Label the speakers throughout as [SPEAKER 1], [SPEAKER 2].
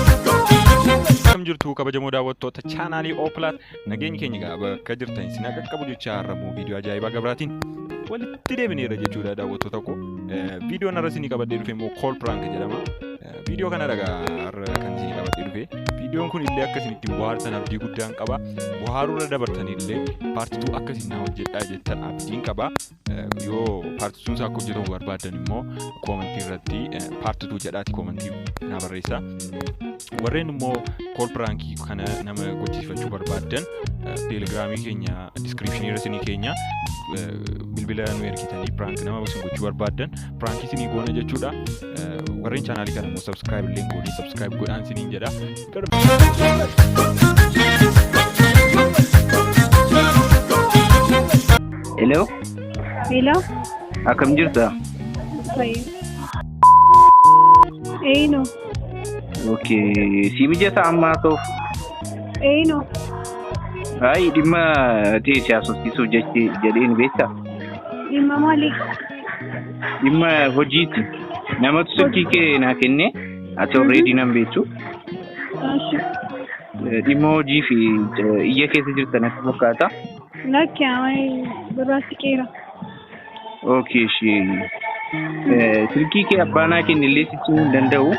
[SPEAKER 1] Akkam jirtu kabajamoo daawwattoota chaanaalii Ooplaat nageenyi keenya egaa bakka jirtan isin haa qaqqabu jechaa har'ammoo viidiyoo ajaa'ibaa gabraatiin walitti deebineera jechuudha daawwattoota koo. Eh, Viidiyoon har'a isinii qabadhee dhufe immoo kool piraank jedhama. Eh, Viidiyoo kana dhagaa har'a kan isinii qabadhee dhufe. Viidiyoon kun illee akka isin ittiin bohaartan abdii guddaan qaba. Bohaaruu irra dabartan illee paartituu akka isin na hojjedhaa jettan abdiin qaba. yoo paartii sun isaa akka hojjetamu barbaadan immoo koomentii irratti paartii tuu jedhaati koomentii naa barreessa. Warreen immoo kool piraankii kana nama gochisiifachuu barbaadan teelegiraamii keenya diskiripshinii irra isinii keenya bilbila nu ergitanii piraank nama isin gochuu barbaadan piraankii isinii goona jechuudha. Warreen chaanaalii kana immoo sabskiraayib illee goonee sabskiraayib godhaan isiniin jedha.
[SPEAKER 2] Hello, Hello?
[SPEAKER 3] akkam
[SPEAKER 2] jirta? Fayyo.
[SPEAKER 3] Eeyino.
[SPEAKER 2] Okay, si mijata amma ta'uuf. Eeyino. Ayi dhimma ta'e siyaasofsiisuuf jechi jedheen beekta. Dhimma
[SPEAKER 3] maalii?
[SPEAKER 2] Dhimma hojiiti. Namatu silkii kee naa kennee Ati already nan beektu. Eshi. Dhimma hojii fi eh, iyya keessa jirtan akka fakkaata. Lakki
[SPEAKER 3] amai duraatti qeera.
[SPEAKER 2] Okay, ishee. Eh, Silkii kee abbaanaa keenya illee sitti himuu hin danda'u.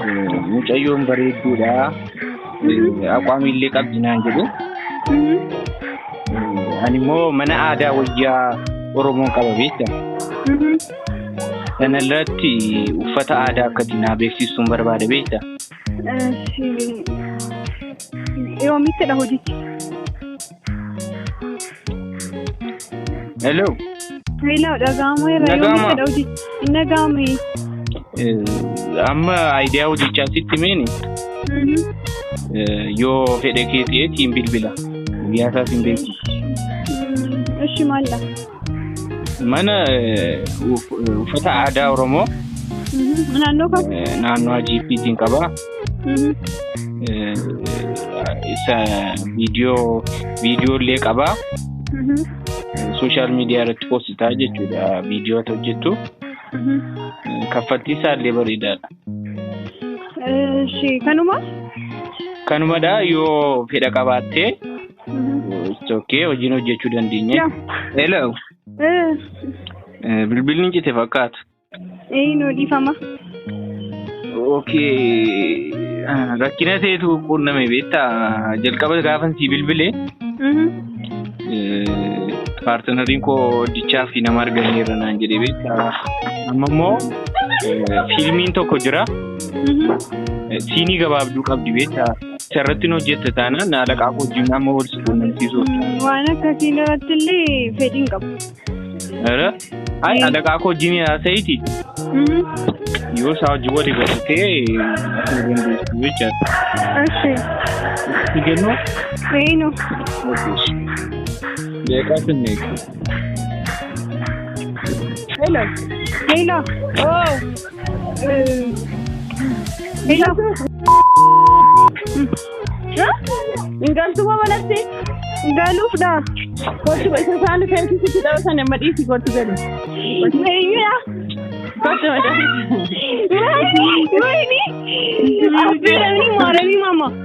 [SPEAKER 2] Eh, Mucayyoon bareedduudha. Eh, Aqwaamii illee qabdi naan jedhu. Eh, Ani immoo mana aadaa wayyaa Oromoon qaba beekta. Kana irratti uffata aadaa akka itti naa beeksistuun barbaada beekta.
[SPEAKER 3] Yoomittidha hojichi?
[SPEAKER 2] Hello. Hello,
[SPEAKER 3] dhaga'ameera. Dhaga'ama. Yoomittidha hojichi? Hin dhaga'amu. Eh, Amma
[SPEAKER 2] aayidiyaa hojichaa sitti meeni Mhm. eh, yoo fedhe kee ta'e tiin bilbila. Guyyaa isaa siin beeksisa. Mm,
[SPEAKER 3] Ishi maalla.
[SPEAKER 2] Mana uffata aadaa Oromoo Naannoo
[SPEAKER 3] kan? naannoo Ajiippiitiin
[SPEAKER 2] qaba. Isa viidiyoo viidiyoo illee qaba. Sooshaal miidiyaa irratti poositaa jechuudha viidiyoo ati hojjettu. Kaffaltii isaa illee bareedaadha. Ishee
[SPEAKER 3] kanuma?
[SPEAKER 2] Kanumadha yoo fedha qabaattee It's okay hojiin hojjechuu dandeenya. Yaa. Hello. Eh, Eh, Bilbilli hin cite fakkaata. eh, nuu
[SPEAKER 3] dhiifama.
[SPEAKER 2] Okay. Ah, Rakkina ta'etu quunname beektaa jalqaba gaafan sii bilbile Mhm. paartinariin koo hojjechaa fi nama argameera naan jedhee beektaa. Amma immoo eh, fiilmiin tokko jira. Mhm. Eh, Siinii gabaabduu qabdi beektaa. Sarratti nu hojjette taanaan naalaqaa wajjin amma wal si quunnamsiisuuf. Waan akkasiin
[SPEAKER 3] irratti illee fedhiin qabu. Ara?
[SPEAKER 2] Ay, alaqaa koo wajjin haasa'iti. Yoo isaa wajjin wali galtee asii dandeessu jechaadha. Ashee. Si kennuu? Eenu. Deeqaa sinnee.
[SPEAKER 3] Hello. Hello. Oh. Hin galtu moo manatti? Hin galuuf dha. Gochi isa isaan feesi sitti dhabasan amma dhiisi gochi galu. Meeyyaa. Gochi madda. Wayini. Wayini. Affeeramni maaramii mama.